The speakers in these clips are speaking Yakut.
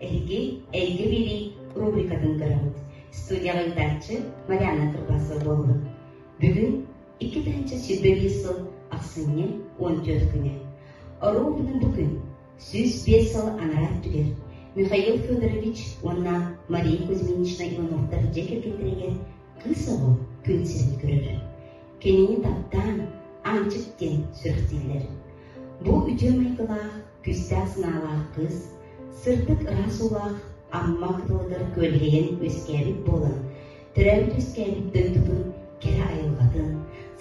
Эһиги Эйгэ билии рубрикатын көрөбүт. Студия ыйытааччы Марианна Кырбасова буолабыт. Бүгүн икки тыһыынча сүүрбэ биир сыл ахсынньы уон түөрт күнэ. Оруобуна бу күн сүүс биир сыл анараа өттүгэр Михаил Федорович уонна Мария Кузьминична Ивановтар дьиэ кэргэттэригэр кыыс оҕо күн сирин көрөлөр. Кинини таптаан, Аанчык диэн сүрэхтииллэр. Бу үтүө майгылаах күүстээх санаалаах кыыс, сырдык ыраас уулаах Амма кытылыгар күөлэһийэн үөскээбит буолан, төрөөбүт-үөскээбит дойдутун кэрэ айылҕатын,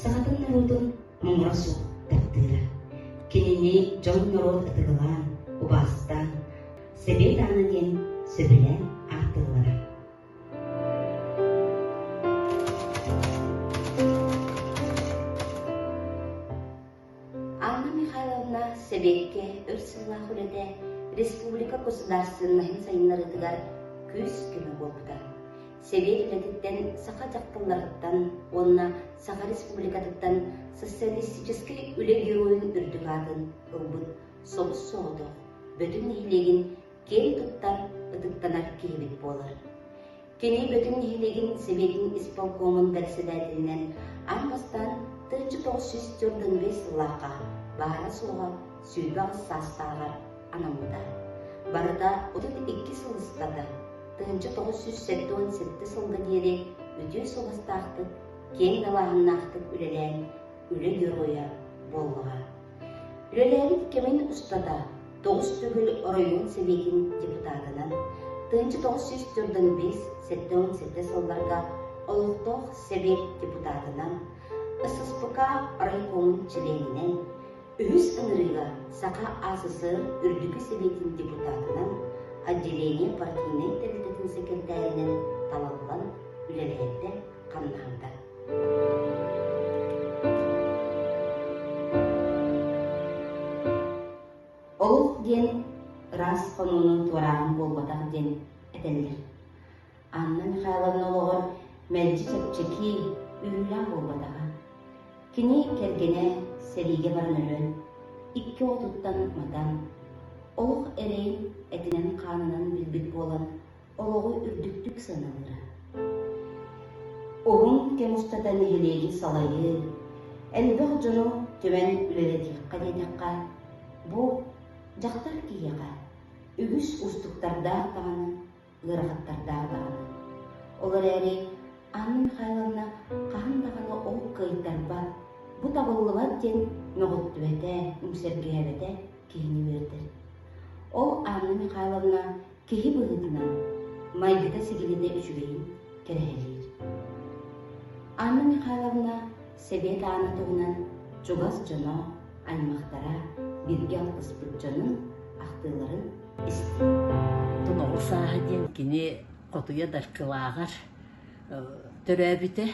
сахатын норуотун муҥура суох таптыыра. Кинини дьон-норуот ытыгылаан, убаастаан, Сэбиэт аана диэн сөбүлээн ааттыыллара. Анна Михайловна Сэбиэккэ өр сыллаах үлэтэ республика государственноһын сайыннарыытыгар күүс-көмө буолбута. Сэбиэт үлэтиттэн саха дьахталларыттан уонна Саха Республикатыттан социалистическай үлэ геройун үрдүк аатын ылбыт собус соҕотох Бөтүн нэһилиэгин киэри туттар, ытыктанар киһибит буолар. Кини Бөтүҥ нэһилиэгин Сибиирин исполкомун бэрэссэдээтэлинэн ан бастаан тыынча тоҕус сүүс төрдөн бэс сыллаахха баара-суоҕа сүүрбэҕис саастааҕар анаммыта. Барыта отут икки сыл ыстата, тыынча тоҕус сүүс сэттэ уон сэттэ сылга диэри үтүө суобастаахтык, киэҥ далааһыннаахтык үлэлээн үлэ дьоруойа буоллаҕа. Үлэлээбит кэмин устата тоҕус төгүл оройуон сэбиэтин депутатынан тыһыынча тоҕус сүүс төрдөн биэс сэттэ уон сэттэ сылларга олохтоох сэбиэт депутатынан, ССПК райкомун чилиэнинэн, үһүс ыҥырыыга Саха АССР Үрдүкү сэбиэтин депутатынан, отделение партийнай тэрилтэтин сэкирэтээринэн талыллан үлэлэһэргэ хамнаһында. Олох диэн ыраас хонууну туорааһын буолбатах диэн этэллэр. Анна Михайловна олоҕор мэлдьи чэпчэки, үөрүүлээх буолбатаҕа. Кини кэргэнэ сэриигэ баран өлөн, икки отуттан матан, олох эрэйин этинэн-хаанынан билбит буолан, олоҕу үрдүктүк саналлара. Уһун кэм устата нэһилиэгин салайыы, элбэх дьону түмэн үлэлэтиэххэ диэтэххэ, бу дьахтар киһиэхэ үгүс устуктардаах даҕаны, ыарахаттардаах даҕаны. Ол эрээри Анна Михайловна хаһан даҕаны ол кыайтарбат, бу табыллыбат диэн мөҕүттүбэтэ, үҥсэргээбэтэ киһини үөрдэр. Ол Анна Михайловна киһи быһыытынан майгыта-сигилитэ үчүгэйин кэрэһэлиир. Анна Михайловна Сэбиэт аана туһунан чугас дьоно, аймахтара, бииргэ алтыспыт дьонун ахтыыларын истим. Оҕо сааһа диэн кини хотуйа даркылааҕар төрөөбүтэ.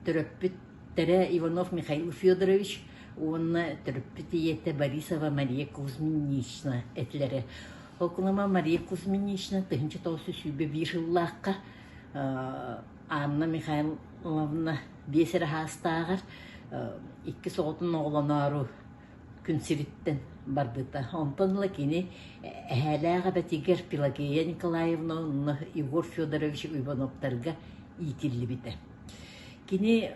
Төрөппүттэрэ Иванов Михаил Федорович уонна төрөппүт ийэтэ Борисова Мария Кузьминична этилэрэ. Окулама Мария Кузьминична тыһынча тоосу сүүбэ биир сыллаахха Анна Михайловна биэс эрэ хаастааҕар иккис оҕотун оҕолоноору күн сириттэн барбыта. Онтон ыла кини эһээлээх эбэтигэр Пелагея Николаевна уонна Егор Федорович Ивановтарга иитиллибитэ. Кини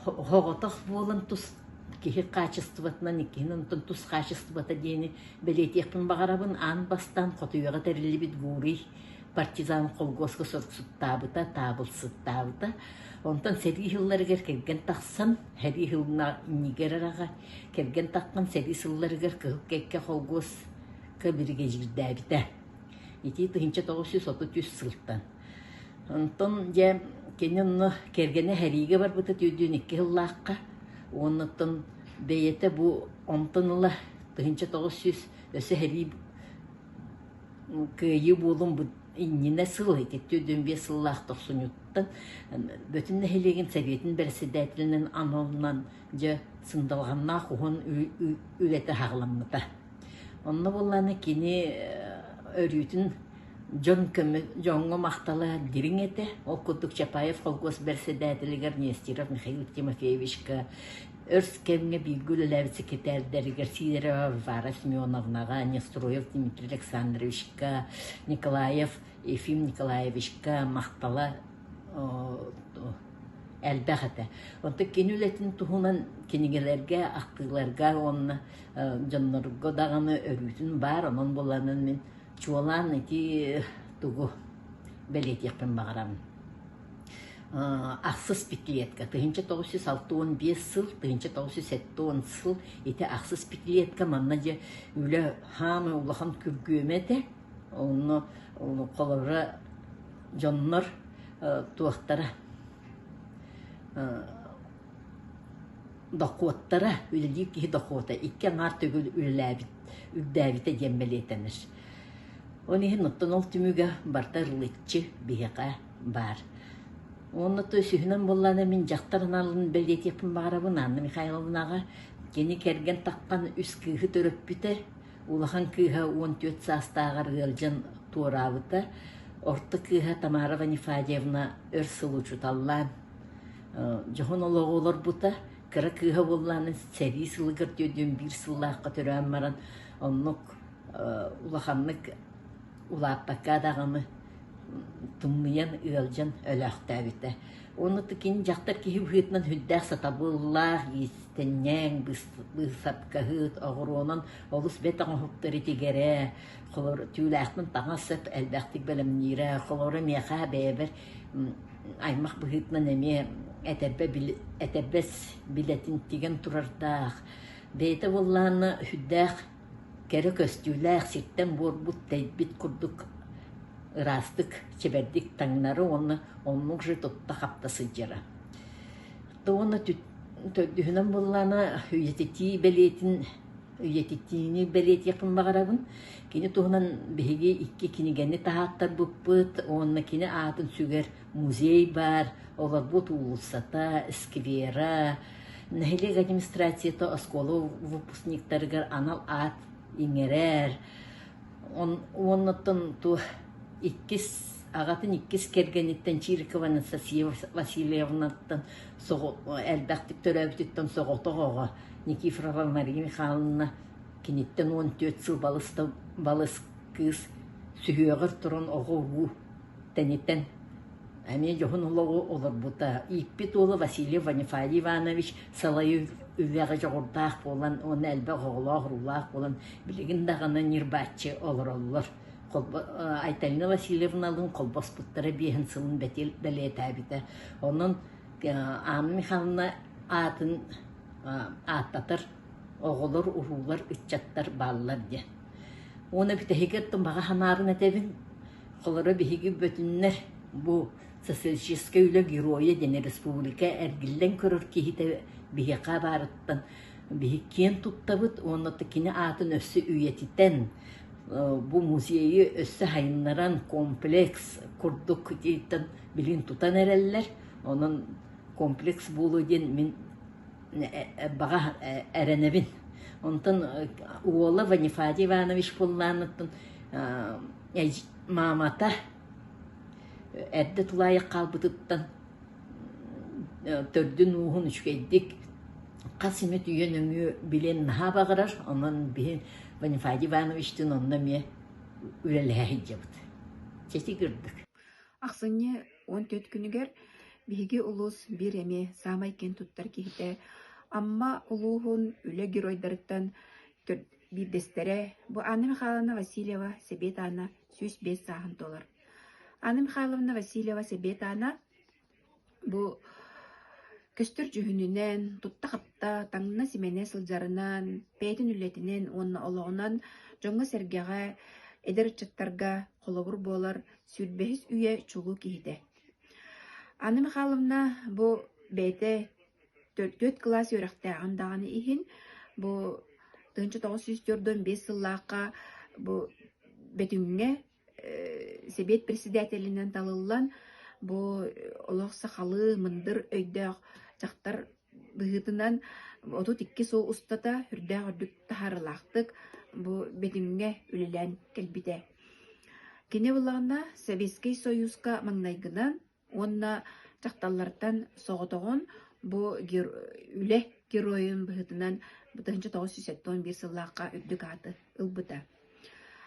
оҕотох буолан тус киһи хаачыстыбатынан иккиһин онтон тус хаачыстыбата диэни бэлиэтиэхпин баҕарабын аан бастаан хотуйаҕа тэриллибит гурий партизан холкуоска соруксуттаабыта таабылсыттаабыта онтон сэрии сылларыгар кэргэн тахсан сэрии сылына нигер араҕа кэргэн таххан сэрии сылларыгар кыһыл кэккэ холкуоска биригэдьиирдээбитэ итии тыһыынча тоҕус жүз отут үс сылтан Онтон дьэ кини онно кэргэнэ сэриигэ барбыта түүрдүүн икки сыллаахха уонуттан бэйэтэ бу онтон ыла тыһыынча тоҕус сүүс өссө сэрии кыайыы буолун иннинэ сыл ити түүрдүүн биэс сыллаах тохсунньуттан Бөтүн нэһилиэгин Сэбиэтин бэрэссэдээтэлинэн аналынан дьэ сындалҕаннаах уһун үлэтэ саҕаламмыта. Онно буоллаҕына кини өрүүтүн дьон көмө дьоҥҥо махтала дириҥ этэ. Ол курдук Чапаев холкуос бэрэссэдээтэлигэр Нестеров Михаил Тимофеевичка, өр кэмҥэ бииргэ үлэлээбит сэкирэтээрдэригэр Сидорова Варвара Семеновнаҕа, Нестроев Дмитрий Александровичка, Николаев Ефим Николаевичка махтала элбэх этэ. Онтон кини үлэтин туһунан кинигэлэргэ, ахтыыларга уонна дьоннорго даҕаны өрүүтүн баар, онон буланан мин чуолаан ити тугу бэлиэтиэхпин баҕарабын ахсыс пятилетка тыһыынча тоҕус жүз алта уон биэс сыл тыһыынча тоҕус жүз сэттэ уон сыл ити ахсыс пятилетка манна дьэ үлэ хаамы улахан күргүөмэ этэ онно холобура дьоннор туохтара Дохуоттара, үлэлиир киһи дохуота икки аҥаар төгүл үлэлээбит, үрдээбитэ диэн бэлиэтэнэр. Ол иһин оттон ол түмүгэ барыта ырылыччы биһиэхэ баар. Уонна то үсүһүнэн буоллаҕына мин дьахтар аналын бэлиэтиэхпин баҕарабын Анна Михайловнаҕа. Кини кэргэн таххан үс кыыһы төрөппүтэ, улахан кыыһа уон түөрт саастааҕар ыалдьан туораабыта, орто кыыһа Тамара Ванифадьевна өр сыл учууталлаан Дьоһун олоҕу олорбута кыра кыыһа буоллаҕына сэрии сылыгар түөрдүөн биир сыллаахха төрөөн баран оннук улаханнык улааппакка даҕаны тумнуйан ыалдьан өлөөхтөөбүтэ. Уонна ытык кини дьахтар киһи быһыытынан хүндээх сатабыллаах, иистэнньэҥ, быысапкаһыт, оҕуруонан олус бэт оҥоһуктары тигэрэ, холоро түүлээхтэн таҥас сап элбэхтик бэлэмниирэ, холоро миэхэ бэйэбэр аймах быһыытынан эмиэ этэрбэ били этэрбэс билэтин тигэн турардаах бэйэтэ буоллаҕына сүрдээх кэрэ көстүүлээх сиртэн-буорбут тэйбит курдук ыраастык чэбэрдик таҥнары уонна оннук же тутта-хапта сылдьара то уонна төрдүһүнэн буоллаҕына үйэтитии бэлиэтин үйэтитиини бэлиэтиэхпин баҕарабын. Кини туһунан биһиги икки кинигэни таһааттарбыппыт уонна кини аатын сүгэр музей баар. Олорбут уулуссата, сквера, нэһилиэк администрацията оскуола выпускниктарыгар анал аат иҥэрэр. Уоннаттан ту иккис аҕатын иккис кэргэниттэн Чирикова Анастасия Васильевнаттан элбэхтик төрөөбүтүттэн соҕотох оҕо Никифорова Мария Михайловна киниттэн уон түөрт сыл балыста балыс кыыс сүһүөҕэр туран оҕо-уруу тэниттэн эмиэ дьоһун олоҕу олорбута ииппит уола Василий Ванифатий Иванович салайыы үлэҕэ дьоҕурдаах буолан уонна элбэх оҕолоох-уруулаах буолан билигин даҕаны ньырбааччы олороллор Айтальна Васильевналыын холбоспуттара биэһин сылын бэлиэтээбитэ. Онон Анна Михайловна аатын ааттатар оҕолор, уруулар, ыччаттар бааллар диэн. Уонна бүтэһигэр баҕа санаарын этэбин. Холоро биһиги бөтүннэр бу социалистическай үлэ геройа диэн республика эргиллэн көрөр киһитэ биһиэхэ баарыттан биһи киэн туттабыт уонна кини аатын өссө үйэтитэн, бу музейы өссө сайыннаран комплекс курдук билин тутан эрэллэр. Онон комплекс буолуо диэн мин баҕа эрэнэбин. Онтон уола Ванифатий Иванович Пулланыттан маамата эрдэ тулаайах хаалбытыттан төрдүн ууһун үчүгэйдик Хас эмэ үтүйэ нөҥүө билиэн наһаа баҕарар, онон биһи Бонифаадьы Ивановичтыын онно эмиэ үлэлэһэ сылдьабыт. Чэчик ырдык. Ахсынньы уон түөрт күнүгэр биһиги улуус биир эмиэ саамай киэн туттар киһитэ Амма улууһун үлэ геройдарыттан төрт биирдэстэрэ, бу Анна Михайловна Васильева Сэбиэт Аана сүүс биэс сааһын туолар. Анна Михайловна Васильева Сэбиэт Аана Бу көстөр дьүһүнүнэн, тутта-хапта, таҥна-симэнэ сылдьарынан, бэйэтин үлэтинэн уонна олоҕунан дьоҥҥо-сэргэҕэ, эдэр ыччаттарга холобур буолар сүүрбэһис үйэ чулуу киһитэ. Анна Михайловна бу бэйэтэ төрт кылаас үөрэхтээҕин даҕаны иһин, бу тыһыынча тоҕус сүүс төрт уон биэс сыллаахха бу Бөтүҥҥэ Сэбиэт председателинэн талыллан, бу олох сахалыы мындыр өйдөөх дьахтар быһыытынан отут икки сыл устата үрдээх үрдүк таһаарыылаахтык бу бэтимҥэ үлэлээн кэлбитэ. Кини былаана Советскай Союзка маҥнайгынан Уонна дьахталлартан соҕотоҕун бу үлэ геройун быһыытынан бу тыһыынча тоҕус сүүс сэттэ уон биир сыллаахха үрдүк ааты ылбыта.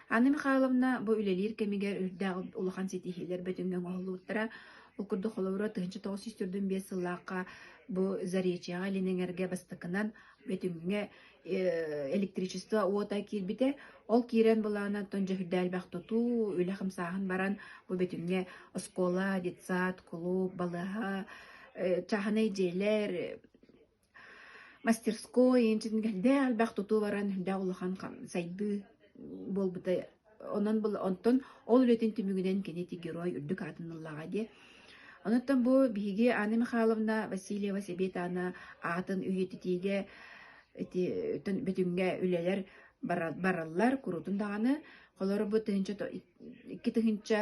Анна Михайловна бу үлэлиир кэмигэр үрдээх улахан ситиһиилэр бөтүҥҥэ оҥоһуллубуттара. Ол курдук холобура тыһыынча тоҕус сүүс төрдүн биэс сыллаахха бу Заречьеҕа илин эҥэргэ бастакынан бөтүҥҥэ электричество уота киирбитэ. Ол киирэн былаана оттон дьөһүрдээлбэх тутуу, үлэ хамсааһын баран, бу битимҥэ оскуола, детсад, кулууп, балыһа, чааһынай дьиэлэр, мастерской, эн чин элбэх тутуу баран, үрдэ улахан сайдыы буолбута Онон онтон ол үлэтин түмүгүнэн кини ити герой үрдүк аатын ыллаҕа диye. Онуттан бу биһиги Анна Михайловна Васильева Себетана аатын үйэтитиигэ ити бөтүҥҥэ үлэлэр бараллар курутун даҕаны холору бу тыһынча икки тыһынча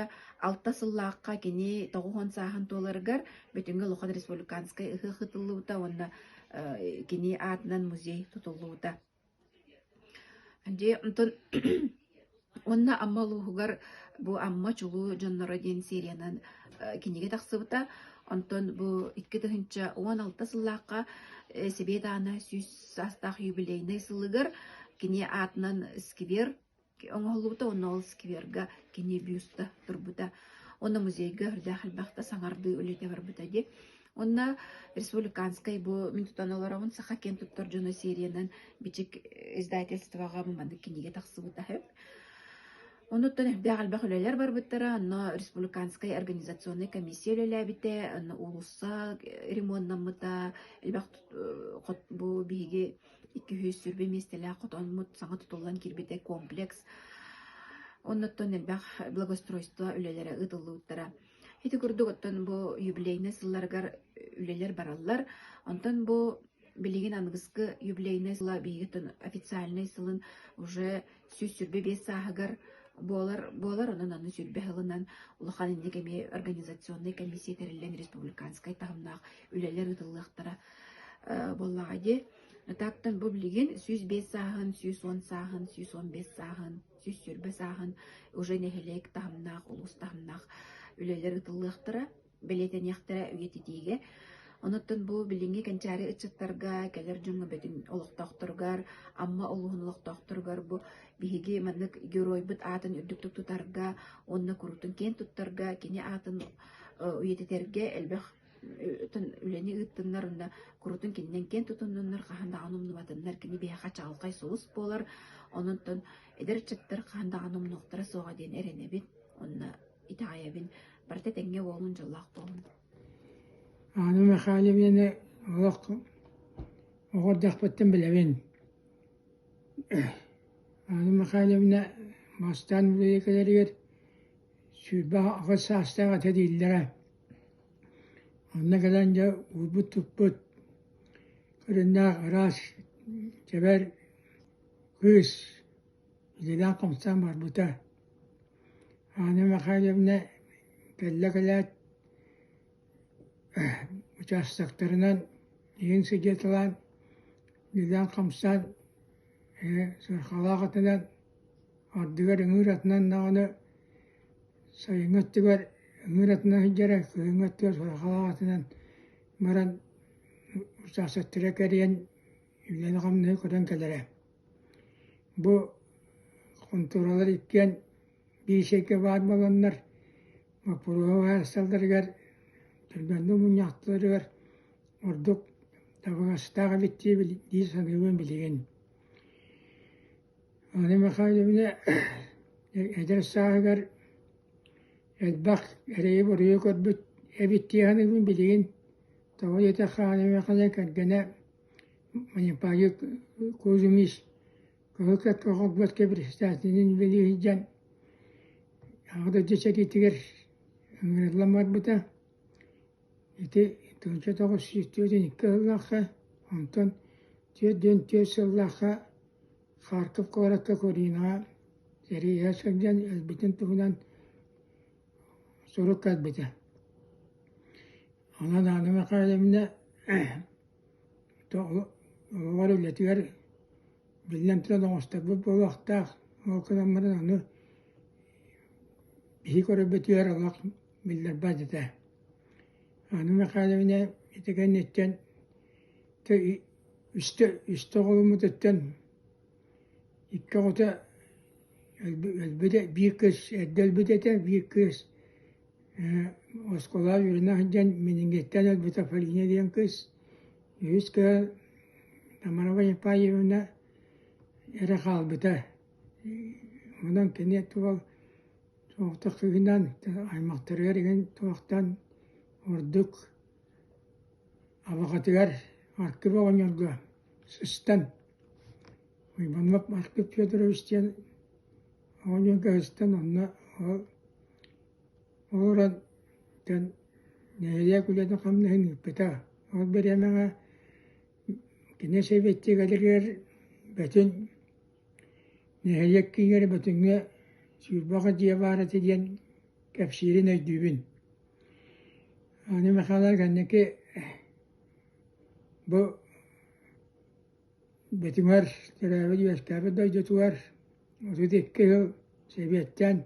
алта сыллаахха кини тоҕуһун сааһын туоларыгар бүтүҥҥү лухан республиканскай ыһы хытыллыбыта уонна кини аатынан музей тутуллубута Дьэ, онтон уонна Амма улууһугар бу Амма чулуу дьонноро диэн сериянан э, кинигэ тахсыбыта. Онтон бу икки тыһыынча уон алта сыллаахха э, Сэбиэт аана сүүс саастаах юбилейнай сылыгар кини аатынан сквер оҥоһуллубута уонна ол скверга кини бюста турбута уонна музейга өрдөөх элбэхтэ саҥардыы үлэтэ барбыта дии уонна республиканскай бу мин тутан олоробун саха киэн туттар дьоно сериянан бичик издательствоҕа маннык кинигэ тахсыбыта үһү онуттан элбэх элбэх үлэлэр барбыттара онно республиканскай организационнай комиссия үлэлээбитэ онно уулусса ремонтнаммыта элбэх бу биһиги икки сүүс сirbi миэстэлээх хотонмут саҥа тутуллан киирбитэ комплекс оннуттан элбэх благоустройство үлэлэрэ ыытыллыбыттара ити курдук оттон бу юбилейнай сылларыгар үлэлэр бараллар онтон бу билигин аныгыскы юбилейнай сыла биһиги официальнай сылын уже сүүс сүүрбэ биэс сааһыгар буолар буолар онон аны сүүрбэ сылынан улахан инник эмиэ организационнай комиссия тэриллэн республиканскай таһымнаах үлэлэр ыытыллыахтара буоллаҕа дии Натаптан бу билигин сүүс биэс сааһын, сүүс уон сааһын, сүүс он бес сааһын, сүүс сүүрбэ сааһын уже нэһилиэк таһымнаах, улуус таһымнаах үлэлэр ыытыллыахтара. бэлиэтэниэхтэрэ үйэтитиигэ. Онуттан бу билиҥҥи кэнчээри ыччаттарга, кэлэр дьоҥҥо бүтүн олохтоохторугар, Амма улууһун олохтоохторугар бу биһиги маннык геройбут аатын үрдүктүк тутарга уонна куруутун киэн туттарга, кини аатын үйэтитэргэ элбэх үлэни ыыттыннар уонна куруутун кининэн киэн тутуннуннар хаһан даҕаны умнубатыннар кини биһиэхэ чаҕылхай сулус буолар ононтон эдэр ыччаттар хаһан даҕаны умнуохтара суоҕа диэн эрэнэбин уонна итэҕэйэбин барыта тэҥҥэ уолун дьоллоох буолун Анна Михайловнаны олох оҕо эрдэхпиттэн билэбин. Анна Михайловна бастаан бүлэйкэлэригэр сүүрбэ аҕыс саастаах ата дииллэрэ. Онно кэлэн дьэ уурбут-туппут көрүннээх араас чэбэр кыыс Үлэлээх хамсаан барбыта. Аана Михайловна кэллэ кэлээт учаастактарынан иһин сидьиэталаан үлэлээн хамсаан ээ сыарҕалаах атынан ардыгар ыҥыыр атынан даҕаны сайыҥҥы өттүгэр ыҥыыр атынан сылдьара кыһыҥҥы өттүгэр сыарҕалаах атынан баран учаастактара кэрийэн үлэни-хамнаһы көрөн кэлэрэ Бу хонтуоралар иккиэн биис эйгэ баар буоланнар, боппуруоһа уһаайысталларыгар, түргэнник мунньахтарыгар ордук табыгастаах эбит дии дии саныыбын билигин. Анна Михайловна эдэр сааһыгар элбэх эрэйи-буруйу көрбүт эбит дии саныыбын билигин тоҕо диэтэр хаана кэргэнэ Манньыпаайык Куузумис Кылыкат оҕорбот кэбиристаатынын үлэлииһдьэн Аҕадырдьа сэриитигэр ыҥырыллан барбыта. Ити тылдьа тоҕус сүүс түөртүн икки сыллаахха, онтон түөртүн түөрт сыллаахха Харьков куоракка Куринаҕа эрийэ сылдьан өлбүтүн туһунан сурук көрбүтэ. Онон аны Михайловна оҕолор үлэтигэр, биллэн турар, оҥосторбут буолуохтаах, ол кыраммытын аны киһи көрөрбүтүгэр олох биллэрбэт этэ. Анна Михайловна ити кэнниттэн үстэ оҕоломмутуттан икки оҕото өлбүтэ, биир кыыс эрдэ өлбүт этэ, биир кыыс оскуола үөрэнэ сылдьан менингиттэн өлбүтэ Полина диэн кыыс үһүс кыһа Тамарова Япаевна эрэ хаалбыта онон кини туох соҕотох сыһыынан аймахтарыгар иҥин туохтан ордук абаҕатыгар аккыбы оҕонньорго сыстан Уйбанов Марк Федорович диэн оҕо ньүэгэһиттэн онно олорон бүтэн нэһилиэк үлэтин хамнаһын ыыппыта. Ол бириэмэҕэ кини Сэбиэттик эдэригэр бөтүн нэһилиэк киинигэр бөтүҥҥэ Сүүрбэҕэ дьиэ баар этэ диэн кэпсиирин өйдүүбүн. Аны Михайлов кэнники бу Бэтимэр төрөөбүт үөскээбит дойдутугар отут икки сыл сэбиэттэн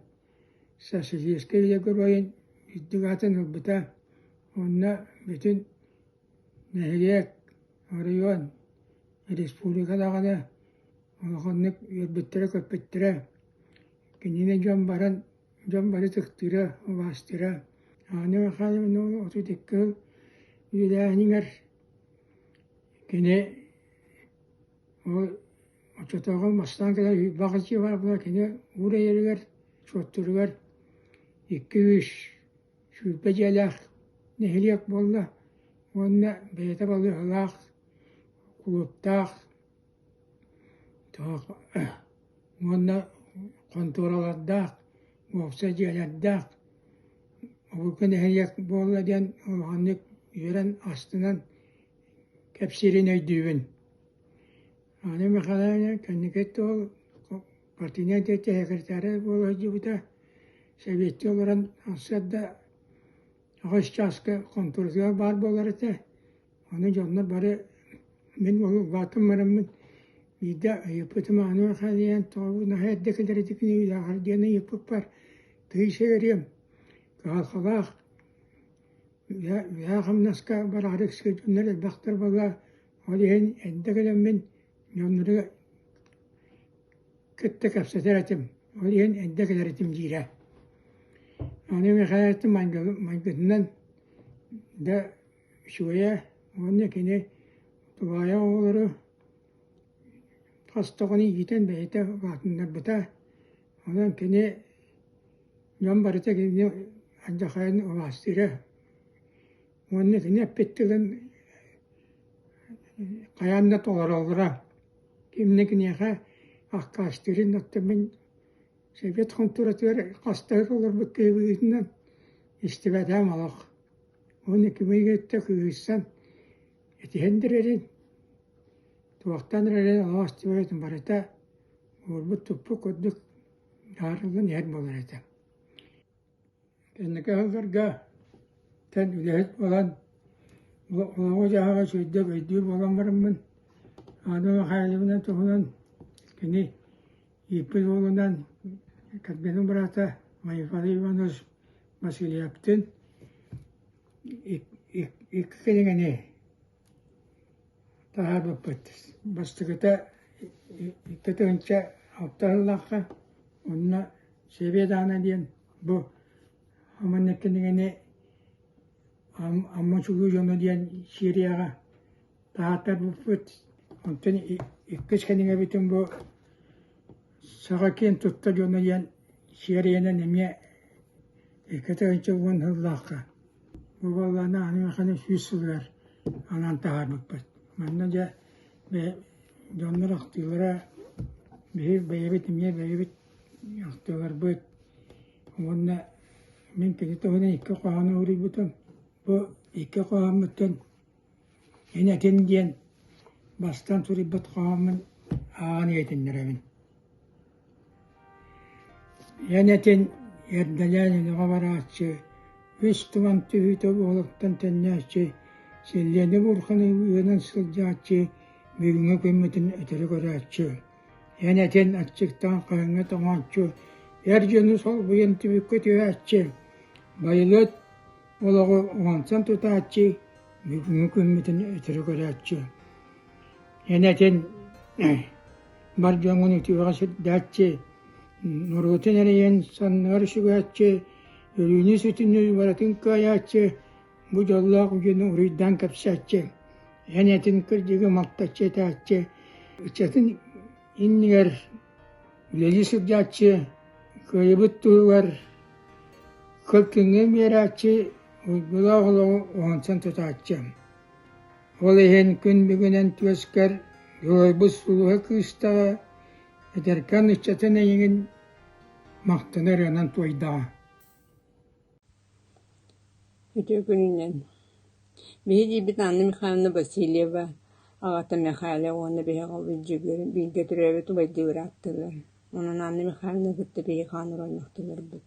Социалистическай геройун үрдүк атын ылбыта уонна бүтүн нэһилиэк, оройуон, республика даҕаны улаханнык үөрбүттэрэ-көппүттэрэ. Кинини дьон баран дьон бары ытыктыыра, убаастыыра. Анна Михайловна отут икки сыл үлэлээһинигэр Кини ол оччотооҕу мастаан кэлэн Уйбаах Аччыыап Арапа кини уур эйэригэр Суоттуругар икки-үс сүүрбэ дьиэлээх нэһилиэк буолла уонна бэйэтэ балыыһалаах, кулууптаах Тоох уонна хонтуоралардаах, уопсай дьиэлэрдээх, обургу нэһилиэк буолла диэн улаханнык үөрэн астынан кэпсиирин өйдүүбүн. Анна Михайловна кэнники ол партийнай да сэкиритээрэ буола сылдьыбыта, сэбиэскэй олорон сырда аҕыс чааска хонтуруругар баар буолар этэ, ону дьонно бары мин уһугубаатым бараммын биирдэ ыйыппытым ааны Михаил тоҕо наһаа эрдэ кэлэритик ньиилээҕэр диэн ыйыппыппар тыйса үөрүөм кыһалҕалаах үһээ хамнаска бараары сылдьыннар элбэхтэр буолла ол иһин эрдэ кэлэммин дьоннору кытта кэпсэтэр этим, ол иһин эрдэ кэлэр этим диирэ. Аны Михаил этим майгытынан да үчүгэйэ уонна кини тулаайах оҕолору хас тоҕону иитэн бэйэтэ улаатыннарбыта. Онон кини дьон барыта кинини алдьархайын улаастыыра. Уонна кини эппиттигин хайаан да толороллоро. Ким да киниэхэ аккаастыырын оттон мин сэбиэт хонтуратыгар хас да олорбут киһи быһыытынан истибэтээм олох. Уонна кимигиттэ кыысан этиһэн дэрэрин туохтан эрэрин олох истибэбитин барыта уурбут туппут курдук аарыллан иһэр буолар этэ Кэнники сылларга эн үлэһит буолан олоҕу-дьаһаҕы сүүрдэ-бэйдии буолан бараммын, ааны Михайловна туһунан кини ииппит уолунан Корбенин быраата Майфалы Иванович Васильевтыын икки кинигэни Таһаарбаппыттыс, бастакыта икки тыһыынча алта сыллаахха уонна Сэбиэт аана диэн бу Аманньык кинигэни Амма сулуу дьоно диэн серияҕа таһаартарбыппыт, онтон иккис кинигэбитин бу саха киин тутта дьоно диэн сиэрийэнэн эмиэ икки инчи уон сыллаахха бу буоллаана аны мэхэни сүүс сылыгар анаан таһаарбыппыт манна дьэ дьоннор ахтыылара биһи бэйэбит эмиэ бэйэбит ахтыыларбыт уонна мин кини туһунан икки хоһоону уруйбутум бу икки хоһооммуттан Эн этин диэн бастаан суруйбут хоһооммун ааҕан иһитиннэрэбин. Эн этин эрдэлээн өнөҕө барааччы, үс туман түһүүтэ буолуохтан төннөөччү, силлиэни буурханы ыанан сылдьааччы, бүгүҥҥү күммүтүн өтөрү көрөөччү. Эн этин аччыктаан хаһыҥҥа тоҥооччу, эр дьону солбуйан түбүккэ түһээччи, байылыат Олоҕу уонтан тутааччы, бүгүҥҥү күммүтүн өтөрү көрөөччү. Эн этин бар дьоҥҥун үтүөҕэ сирдээччи, норуотун эрийэн саннар сүгээччи, өлүүнү сүтүнү барытын кыайааччы, бу дьоллоох дьону уруйдаан кэпсээччи, эн этин кырдьыгы малтаччы этээччи, ыччатын иннигэр үлэлии сылдьааччы кыайбыт туһугар кыпкиҥҥэ биэрээччи уйгулаах олоҕу уһунсан тутааччы ол иһин күн бүгүнэн түөскэр дьулуйбут сулуһа кыыстаҕа этэркээн ыччатын эйигин махтана ырыанан туойдаҕа Үтүө күнүнэн! Биһи диирбит Анна Михайловна Васильева, аҕата Мэхээлэ уонна биһиэхэ Бүддьүгүр бииргэ төрөөбүт убайдыылара ааттыыллар. Онон Анна Михайловнаны кытта биһиги хаанар оймахтанарбыт.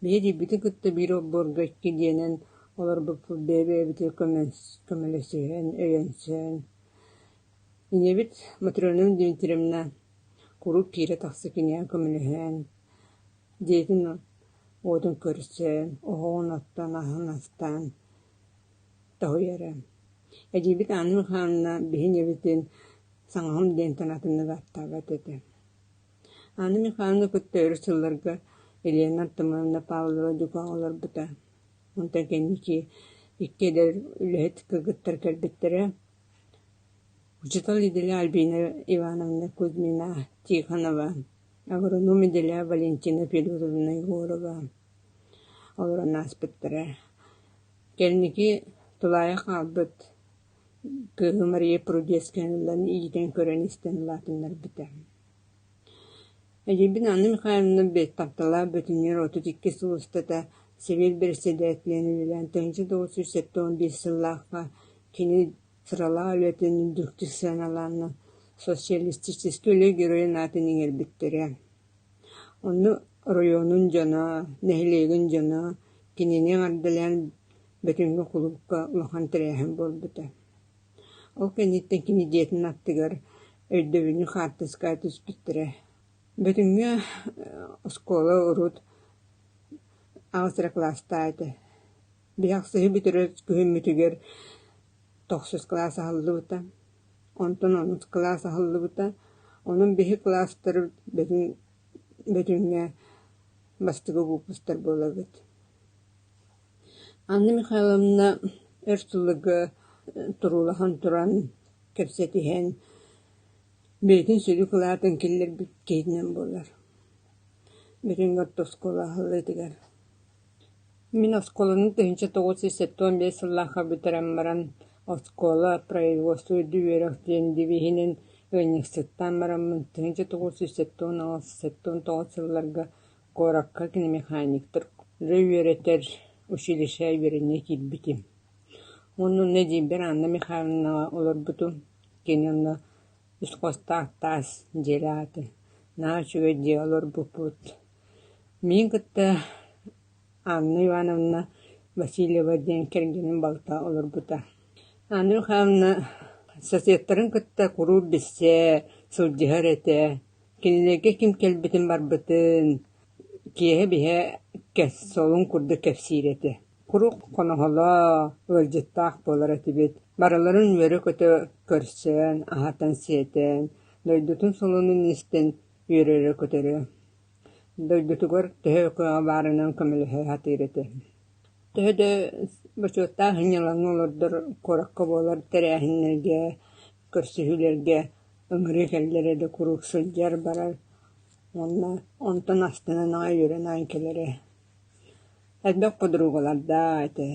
Биһи диирбитин кытта биир олбуорга икки дьиэнэн олорбуппут бэйэ-бэйэбитигэр көмөлөс- көмөлөсүһэн, өйөнсөн, ийэбит Матрена Дмитриевна куруук киирэ-тахса киниэхэ көмөлөһөн диэтин ол уотун көрсөн, оһоҕун оттон, аһын астаан тоһуйара. Эдьиийбит Анна Михайловна биһин ийэбитин саҥаһым диэнтэн атыннык ааттаабат этэ. Анна Михайловна кытта өрүс сылларга Елена Артамоновна Павлова дьукаан олорбута. Онтон кэнники икки эдэр үлэһит кыргыттар кэлбиттэрэ. Учуутал Иделя Альбина Ивановна Кузьмина Тихонова Агроном идэлээх Валентина Федоровна Егорова олорон ааспыттара. Кэнники тулаайах хаалбыт кыыһы Мария Прудецканалан иитэн көрөн-истэн улаатыннарбыта. Эдьийбин Анна Михайловна тапталаах бөтүннэр отут икки сыл устата Сэбиэт бэрэссэдээтэлинэн үлэлээн тыһыынча тоҕус сүүс сэттэ уон биэс сыллаахха кини Сыралаах үлэтин үрдүктүк сыаналааннар Социалистическай Үлэ Геройун аатын иҥэрбиттэрэ. Онно оройуонун дьоно, нэһилиэгин дьоно кинини эҕэрдэлээн Бөтүҥҥэ кулуупка улахан тэрээһин буолбута. Ол кэнниттэн кини дьиэтин аттыгар өйдөбүнньүк хаартыска түспүттэрэ. Бөтүҥҥэ оскуола-урут аҕыс эрэ кылаастаах этэ. Бүдэхсиһи бүтүрэр күһүммүтүгэр тохсус кылаас аһыллыбыта, онтон онус кылаас аһыллыбыта. Онон биһи кылаастары бөтүн бөтүҥҥэ бастакы выпустар буолабыт. Анна Михайловна өр сылларга туруулаһан туран, кэпсэтиһэн, бэйэтин сүдү кылаатын киллэрбит киһитинэн буолар. Бөтүҥҥэ орто оскуола аһыллыытыгар Мин оскуоланы тыһыынча тоҕус жүз сэттэ уон биэс сыллаахха бүтэрэн баран, оскуола производство үрдүк үөрэх диэн девиһинэн ыанньыксыттаан бараммын, тыһыынча тоҕус жүз сэттэ уон аҕыс сэттэ уон тоҕус сылларга куоракка киномеханиктары үөрэтэр училище үөрэниэ киирбитим. Оннунна эдьиийбэр Анна Михайловнаҕа олорбутум. Кини онно искусствах таас дьиэлээх этэ. Наһаа үчүгэй дьиэ олорбуппут. Миин кытта Анна Ивановна Васильева диэн кэргэним балта олорбута. Анна Михайловна соседтарын кытта куруук билсэ, сылдьыһар этэ. Кинилэргэ ким кэлбитин-барбытын, киэһэ-биһэ солун курдук кэпсиир этэ. Куруук хоноһоло, ыалдьыттаах буолар этибит. Барыларын үөрэ-көтө көрсөн, аһатан-сиэтэн, дойдутун солунун истэн үөрэрэ-көтөрө. Дойдутугар төһө кыаҕа баарынан көмөлөһө сатыыр этэ. Төһө да бочуоттаах анньылаҥҥа олордор куоракка буолар тэрээһиннэргэ, көрсүһүүлэргэ ыҥырыы кэллэрэ да куруук сылдьар барар уонна онтон астынан аҕай үөрэн аайы кэлэрэ. Элбэх подругалардаах этэ.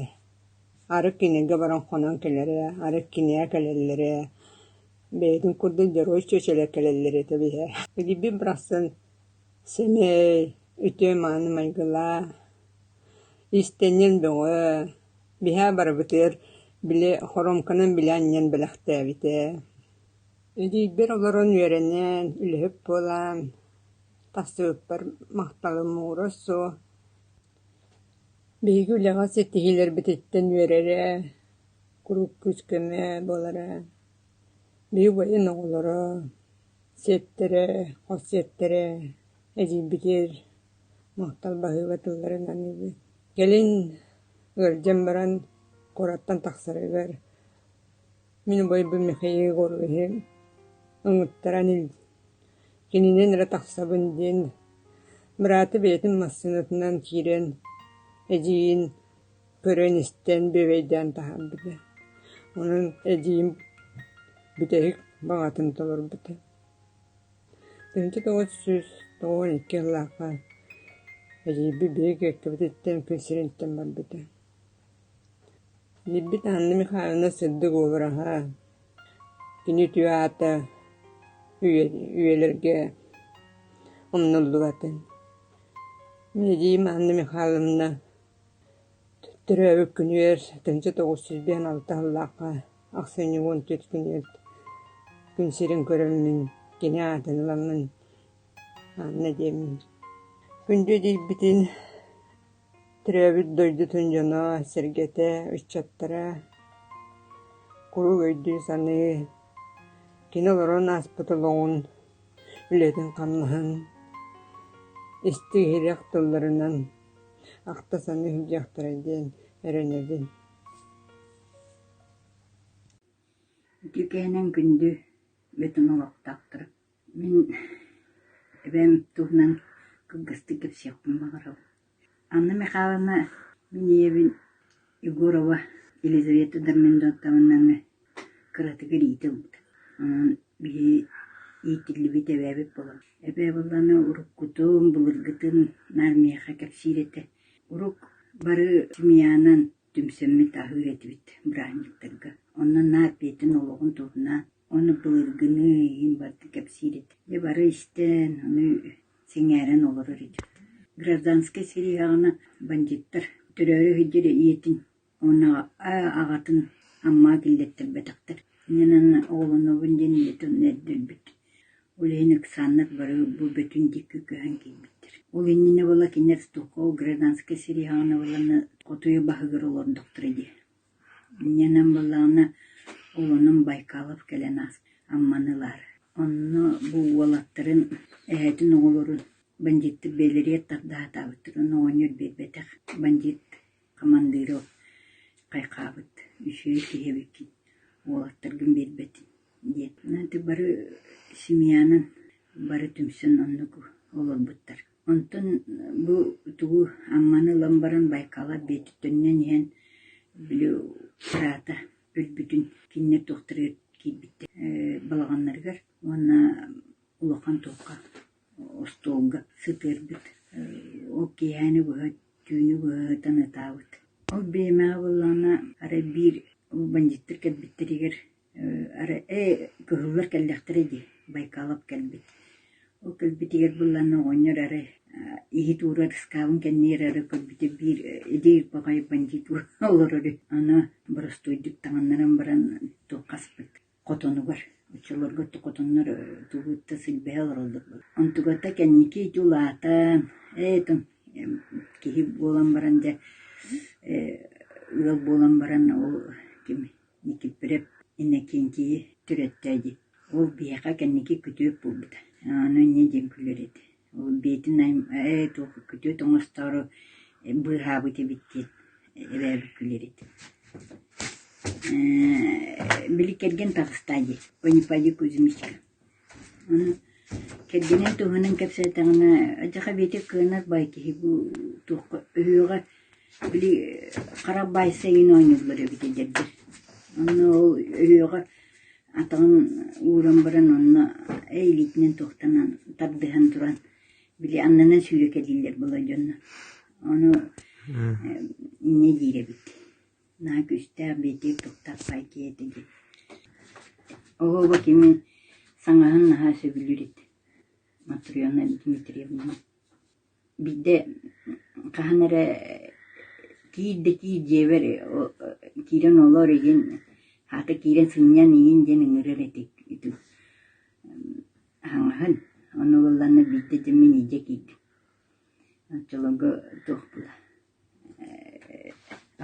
Арык кинигэ баран хонон кэлэрэ, арык кинигэ кэлэллэрэ Бэйэтин курдук дьоруой чүөчэлэр кэлэллэр этэ биһэ Эгийбин барахсан сэмэй, үтүө-мааны майгылаах, иистэнньэҥ бөҕө, биһэ барыбытыгар били хоруомканан билэ анньан бэлэхтээбитэ. Эгийбэр олорон үөрэнэн, үлэһит буолан, тахсыбыппар махталым муҥура суох. Биһиги үлэҕэ ситиһиилэрбититтэн үөрэрэ, куруук күүс-көмө буолара. Биир убайын оҕолоро, сиэттэрэ, хос сиэттэрэ эдьиийбитигэр махтал баһыыба тылларын аныыбыт. Кэлин ыалдьан баран куораттан тахсарыгар мин убайбын Михаил Егоровиһы ыҥыттаран ил- кининэн эрэ тахсабын диэн быраата бэйэтин массыынатынан киирэн эдьиийин көрөн-истэн, бүөбэйдээн таһаарбыта. Онон эдьиийим бүтэһик баҕатын толорбута. Тыһыынча тоҕус сүүс тоҕуон икки сыллаахха эдьиийбит биһиги Кэккэбититтэн күн сириниттэн барбыта. Ийэбит Анна Михайловна сырдык уобараһа, кини үтүө аата үйэлэргэ умнуллубатын. Мин эдьиийим Анна Михайловна Төрөөбүт күнүгэр тыһыынча тоҕус сүүс биэс алта сыллаахха ахсынньы уон түөрт күнүгэр күн сирин көрөммүн, кини аатын ыламмын аанна диэммин. Күндү илиибитин төрөөбүт дойдутун дьоно, сэргэтэ, ыччаттара куруук өйдүү-саныы, кини олорон ааспыт олоҕун, үлэтин-хамнаһын истиһирэх тылларынан Ахта-сана иһиллиэхтэрэй диэн эрэнэбин Ити кээнэн күндү бөтүҥ олохтоохторо, мин эбэм туһунан кылгастык кэпсиэхпин баҕарабын. Анна Михайловна, мин ийэбин Егорова Елизавета Дарминдовтамнаҥы кыратык илиитэ ылбыта, онон биһи иитиллибит эбээбит буолан, эбээ буоллаҕына уруккутун, былыргытын наар миэхэ кэпсиир этэ. Урук бары семьянан түмсэммит аһыыр этибит бырааһынньыктарга. Онон наар бэйэтин олоҕун туһунан уонна былыргыны иһин барыта кэпсиир этэ. Дьэ бары истэн, аны сэҥээрэн олорор этибит. Гражданскай силиһэҕинэ бандьыыттар төрөөрү сылдьар ийэтин Уонна аҕатын Амма киллэттэрбэтэхтэр. Иннинэн оҕолонобун диэн ийэтин эрдэрбит. Ол иһин Оксана бары бу бөтүн диэки көһөн киирбиттэр. Ол иннинэ була кинилэр Столково гражданскай сириһаҕына буоллаҕына хотуйу баһыгар олордохторо дии. Иннинэн буоллаҕына оҕолонон Байкалов кэлэн ааспыт Амманы ылаары. Онно бу уолаттарын, эһэтин оҕолорун бандьыыттар бэйэлэригэр тарда сатаабыттар. Ону оҕонньор биэрбэтэх бандьыыт Командиров хайхаабыт, үсүһүс киһи эбиккин, уолаттаргын биэрбэтин, диэт, ити бары семьянан бары түмсэн оннук олорбуттар. Онтон бу тугу Амманы ылан баран Байкалар Бүөтүттэнинэн иһэн били быраата өлбүтүн кинилэр туохтарыгар киирбиттэр э, балаҕаннарыгар уонна улахан туохха остуолга сытыырбыт, ол киэһэни быһа түүнү быһа ытан ытаабыт. Ол биэмэҕэ буоллаҕына арай биир бандьыыттар кэлбиттэригэр арай ээ кыһыллар кэллэхтэрэ дии Байкалов кэлбит. Ол кэлбитигэр буоллаҕына оҕонньор арай иһит уурар ыскаабын кэннигэр эрэ көрбүтэ биир идэй ырбаҕай бандьыыт олорор үһү. Аны боростуойдук таҥыннаран баран туох хаспыт Хотонугар, оччолорго хотоннор тулуутта силбэһэ олороллор. Онтугата кэнники ити улаатан, ээ тоҥ киһи буолан баран дьэ ыал буолан баран ол ким Никифоров Иннокентийи төрөттөө дии. Ол биһиэхэ кэнники күтүөт буолбута. Аны инньэ диэн күлэр этэ Бээтинэй ээ туох күтүөт оҥостоору быыһаабыт эбит диэн эбээбит күлэрит ээ били кэргэн таҕыста дии «По не пойди Кузьмичка» аны кэргэнин туһунан кэпсээтэҕинэ «Дьаха Биэти кыанар бай киһи бу туохха өһүөҕэ били хара баайса иһин оонньууллар эбит эдэрдэр онно ол өһүөҕэ Атаҕын ууран баран онно эй илиитинэн туохтанан тардыһан туран били аннынан сүүрэкэлииллэр буолар дьонно. Ону инньэ диир эбит. Наа күүстээх бэйэтигэр туктаах пай киһитэ диэн. Оҕоҕо кими саҥаһын наһаа сөбүлүүр эт. Матрена Дмитриевна. Биирдэ хаһан эрэ киир да киир дьиэбэр киирэн олор игин аата киирэн сынньан ийин диэн ыҥырар этик ити хаҥаһын ону ылланна биирдэ дьэ мин илдьэ киирдим оччолорго туохпуна ээ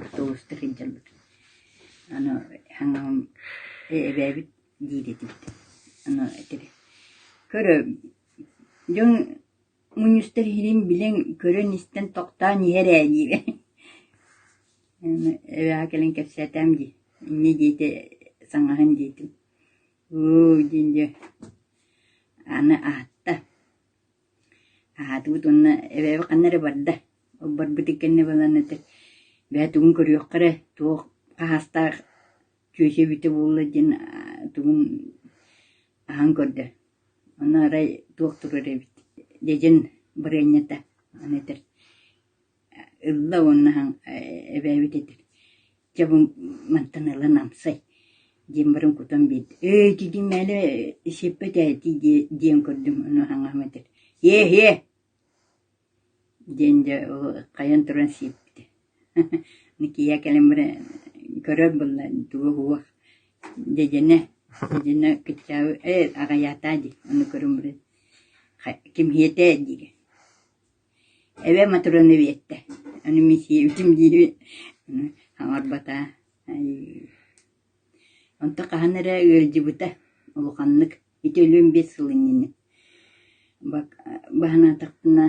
автобуска сылдьарбытым аны хаҥаҕым эбээбит диир этибит аны этэрэ көрө дьон Мунньустар иһинин билэн, көрөн-истэн тохтоон иһэр ээ диибин эбэҕэ кэлэн кэпсээтээм дии инньэ диэтэ саҥаһын диэтим һуу диэн дьэ аны аһатта аһаатыбыт уонна эбээбит ханна эрэ барда ол барбытын кэннэ баран этэр бээ тугун көрүөххэ эрэ туох хаһаастаах чүөчэ эбитэ буолла диэн тугун аһан көрдө Аны арай туох турар эбит, дьэдьэн бырыанньата аны этэр ылла уонна аһан эбээбит этэр: «Чэ бу мантан ылан амсай» диэн баран кутан биэрдэ. «Өө ити дьиҥ мээнэ сиппэт ээ ити» диэн көрдүм. Ону аһаҥаһым этэр: «Иэһиэ» диэн дьэ хайан туран сиэппитэ Никия кэлэн баран көрөөт буолла туоһуох дьэдьэнэ дьэдьэнэ кыччаабы ээ аҕыйаатаа дии аны көрөн баран кимһиэтээ диигин эбэ Матроны биэртэ аны мин сиэбитим диэбит хаҥарбатаа Онто хаһан эрэ ыалдьыбыта улаханнык ити өлүөн биэс сыл иннинэ. Баһынаатахпына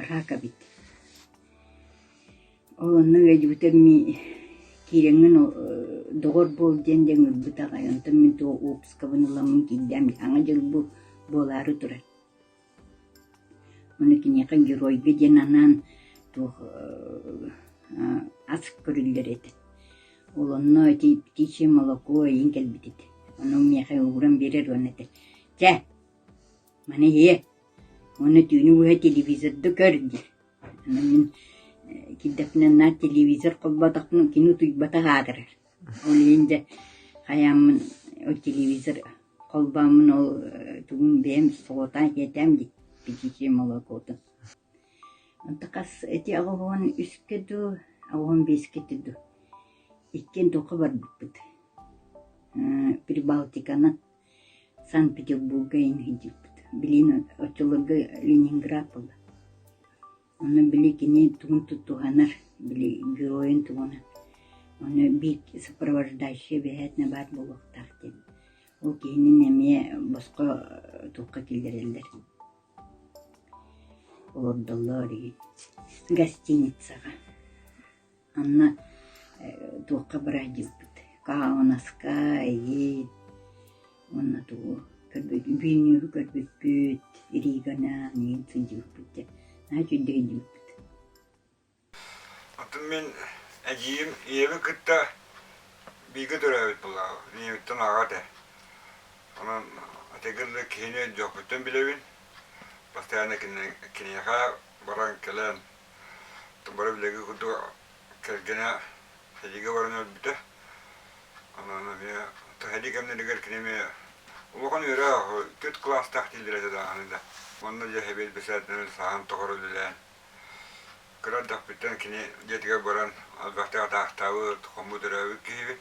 рак эбит. Ол онно ыалдьыбыта киирэҥҥин доҕор буол диэн диэн ылбыт аҕай. Онтон мин туох уоппускабын ыламмын киирдэм. Аҕа дьыл буолаары турар. Ону киниэхэ геройга диэн анаан туох аа ас көрүллэр этэ. Ол онно ити птичье молоко эйиин кэлбитит. Ону миэхэ ууран биэрэр уонна этэр: «Чэ, маны иһиэ, уонна түүнү быһа телевизорду көр» диир. Онон мин э киирдэхпинэ наар телевизор холбоотохпуна кини утуйбатах аатырар Ол иһин дьэ хайааммын ол телевизор холбооммун ол тугум бэйэм соҕотоон иһитээм дии пятичное молокото онто хас ити оҕоһун үскэ дуу оҕоһун биэскэтэ дуу иккиэн туохха барбыппыт Прибалтиканан Санкт-Петербурга иһирдьиппит билигин оччолорго Ленинград буолла Ону били кини тугун тутуһанар, били геройун тугуна, ону биир сопровождающай бэйээтинэ баар буолуохтаах диэн. Ол киһинин эмиэ босхо туохха киллэрэллэр. Олордоллор үһү. Гостиницаҕа. Анна туохха бырайдьыппыт? Хаһааҥҥынаска, эйиит уонна тугу көрбүт Вильнюһу көрбүппүт, Риганы миигин сылдьыбыппыт диэн наһаа үчүгэйдик өйдүүбүт. Атын мин эдьиийим ийэбин кытта бииргэ төрөөбүт буолаҕа, ийэбиттэн аҕа этэ. Онон ити курдук киһини дьоппуттан билэбин. Постоянно киниэхэ баран кэлэн Тубара билиги курдук кэргэнэ Эдиге баран өлбүтэ. Онон эмиэ Эдик эмнэригэр кини эмиэ улахан үөрэ түөрт кылаастаах дииллэрэ дааны да. Онно дьэһэбиэт бэсээтинэн сааһын тохор үлэлээн кыра ардахпыттан кини дьиэтигэр баран албахтык атаахтаабыт, хоммут өрөөбүт киһибит.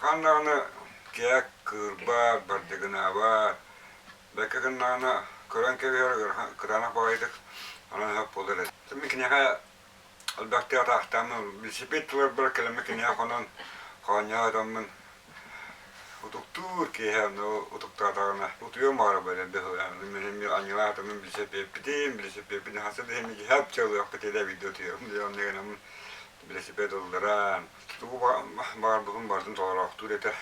Хан даҕаны кээк кыырбаат, бардыгынаабаат, бэккэ гыннаҕына көрөн кэбиһэр кытаанах баҕайытык онон сөп буолар эбит. Мин киниэхэ элбэхтик атаахтааммын, билсипит тылларбар кэлэммин киниэхэ хонон хоонньоох этэммин утуктуур киэһэ аны утуктаатаҕына утуйуом баара бэлэм быһылаан мин эмиэ анньылаах атаммын билисипиэппитим билисипиэппитин хаста да эмиэ дьиһэп чалыахпытый да эбигдэ утуйуом диэн онно гынаммын билисипиэт ылларан Тугу баарбытын барытын толороохтуур этэ.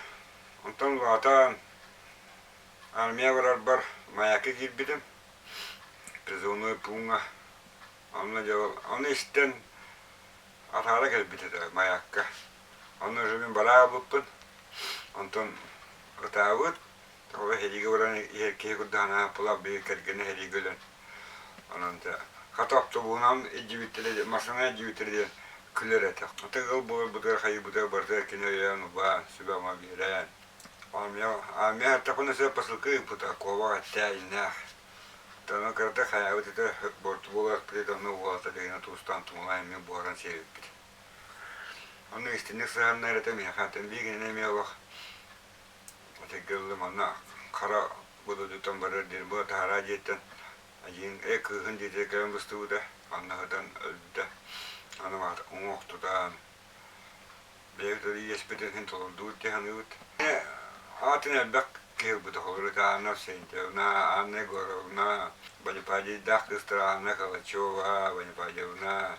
Онтон улаатан армия барарбар маякка киирбитим. Призывной пууҥа. Онно дьабал. Ону истэн атаара кэлбит этэ маякка. Онно уже мен бараабыппын. Онтон ытаабыт. Ол эһиилги олорон иһэр киһи курдук Ааппылап биир кэргэнэ эһиилги өлөн. Онон хата автобуһунан илдьибиттэрэ массаана илдьибиттэрэ диэн күлэр этэ. Аты ыал буоларбытыгар хайыыбытыгар барытыгар кини өйөөн убаан, сүбэ-ама биэрэн. Аамия атахына сэ посылка ыыппыта куобах эттээ иннээх. Таны кырата хайаабыт ete борту боласпыт онну уолата дыгына туустан тумала эмми буоран севиппит. Ону истинник сыһаннар этэ миэхэ атын биигин эмиэ олох Эчэйгэ ыллым манна хара будуутуттан барар диэн була таһараа дьиэттэн эдьиин эй кыыһын дьиэтигэр кэлэн быстыбыта манна сытан өлбүтэ аны уҥуох тутаан бэйэбит ол иэспитин иһин толордубут дии саныыбыт аатын элбэх киһи ылбыта Холоритаана Сентьевна Анна Егоровна Бонипадийдаах кыыстар Анна Калачева Бонипадьевна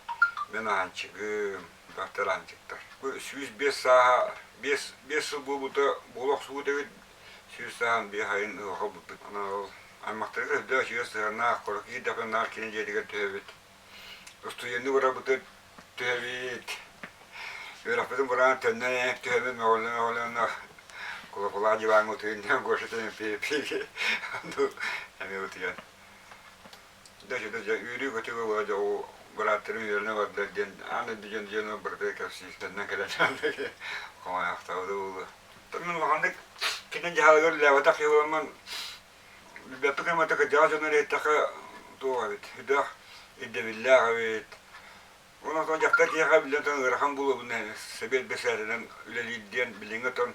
мен аанчыгым дьахтараанчыктар. Сүүс биэс сааһа, биэс, биэс сыл буолбута, буола охсубут эбит. Сүүс сааһын биэс айын ыалга булбут. Анал аймахтарга өйдөөх үчүгэй сыһыаннаах, кура киһи дапыннаах кини дьиэтигэр түһэбит. Устуйуоннук ураппытыт түһэбит. Үөраппытын бураан төннөн эйэм түһэммит мөҕүллэн оҕолонно кулакулаа диваҥҥа утуйун диэн Гоша тэниппиэппиги анну эмиэ утуйан да-дьа-да-дьа үөрүү-көтүү буолуо дьэ ол бырааттары үөрэнэ барда диэн аан эрби дьон дьиэн барыта кэпсиистэннэн кэлэн хомойохтообута буолуо тормун улаханнык кини дьаһалыгар лээбэтэх йылламмын билбэппит кымата кырдьаҕас дьонно рейтаха туох эбит үдөх ирдэбиллээх эбит уонна отон дьахтар киһиэхэ биллэн тан ыарахан буолуобун сэбиэт бэсээринэн үлэлиир диэн билиҥҥи отон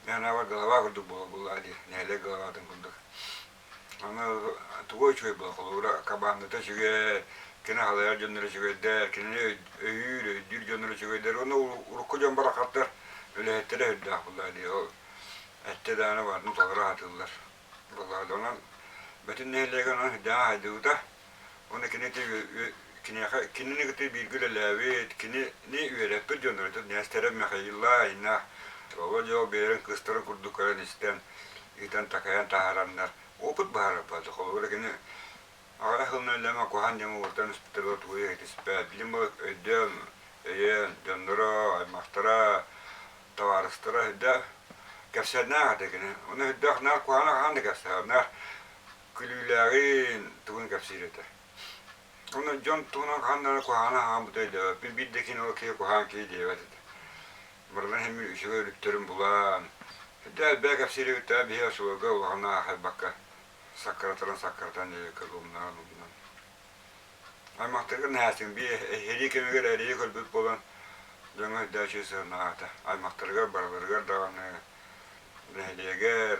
мээнэбар голова курдук буола буоллаа дии нэһилиэк головатын курдук Аны тугу үчүгэй була холуура кабаандата үчүгэй, кини халайар дьоннор үчүгэйдэр, кинини өйүүр, өйдүүр дьоннор үчүгэйдэр. Уонна урукку дьон барахаттар үлэһиттэрэ өһүрдээх буоллаа дии. Ол эттэ даҕаны баарын толору аһатыыллар. Буоллаа онон бөтүн нэһилиэгин онон сыдьаан хайдыбыта. Уонна кини киниэхэ кинини кытта бииргэ үлэлээбит, кинини үөрэппит дьон өрөтөр Ньээстэрэ Михаила айна Володя бэйэрин кыстарын курдук көрөн истэн ыытан такайан таһаараннар опыт баһарарбат холобура кини аҕара сылынан үлэмэ куһан дьама ууртан испитэрэ тугуйа итиспэт билим өйдөөн өйөөн дьонноро аймахтара табаарыстара да кэпсээннээх ата кини уну үрдөх наар куһана хаан да кэпсээннээх Күлүүлээҕин тугун кэпсиир этэ. Ону дьон тугунан хаһан да куһаҕан ааҕан бута өйдөөбөппүн. Биир да кини ол киһи куһаҕан киһи диэбэт этэ. Барытын эмиэ үчүгэй өлүктэрин булан, Дьэ элбээн кэпсииригиттэн биһи осуолга улахана аахайбакка саккыратан саккыратан диэбиккэ булунан булунан. Аймахтаргын наһаастыҥ би эһиэлии кэмигэр эрийэ көрбүт буолан дьоҥҥо өйдөөчү сыһыаннаата. Аймахтарыгар барыларыгар даҕаны нэһилиэгэр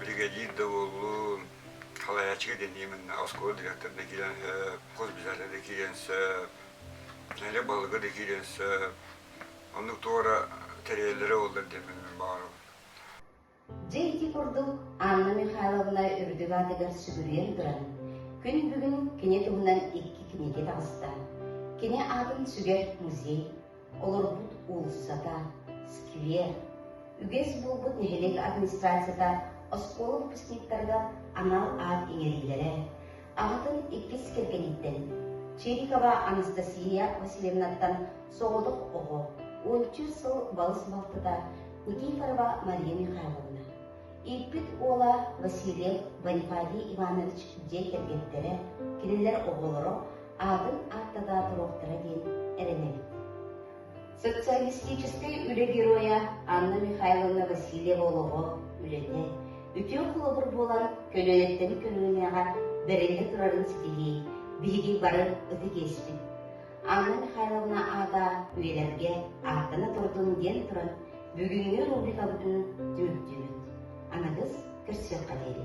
Биригэдьиир да буоллун, халайааччыга дэнии мынна оскуола директорда киирэн сөп, госпиталя да киирэн сөп, нэдэ балыгы да киирэн сөп. Оннук туора тэрийэллэрэ боллар диэн мин баҕарабын. Дьэ ити курдук Анна Михайловна үрдүк аатыгар сүгүрүйэн туран, күн бүгүн кини туһунан икки кинигэ таҕыста. Кини аатын сүгэр музей, Олорбут уулуссата, сквер, үгэс буолбут нэһилиэк администрацията оскуола выпускниктарыгар анал аат иҥэриилэрэ, аҕатын иккис кэргэниттэн, Чирикова Анастасия Васильевнаттан соҕотох оҕо, уонча сыл балыс балтыта Никифорова Мария Михайловна, ииппит уола Васильев Бонифатий Иванович дьиэ кэргэттэрэ, кинилэр оҕолоро аатын ааттатаа туруохтара диэн эрэнэбит. Социалистическай үлэ геройа Анна Михайловна Васильева олоҕо, үлэтэ, үтүө холобур буолан көлүөнэттэн көлүөнэҕэ бэриллэ турарын ситиһии биһиги бары ытык иэспит. Анна Михайловна аата үйэлэргэ ааттана турдун диэн туран бүгүҥҥү рубрикабытын түмүктүүбүт. Аныгыс көрсүөххэ диэри.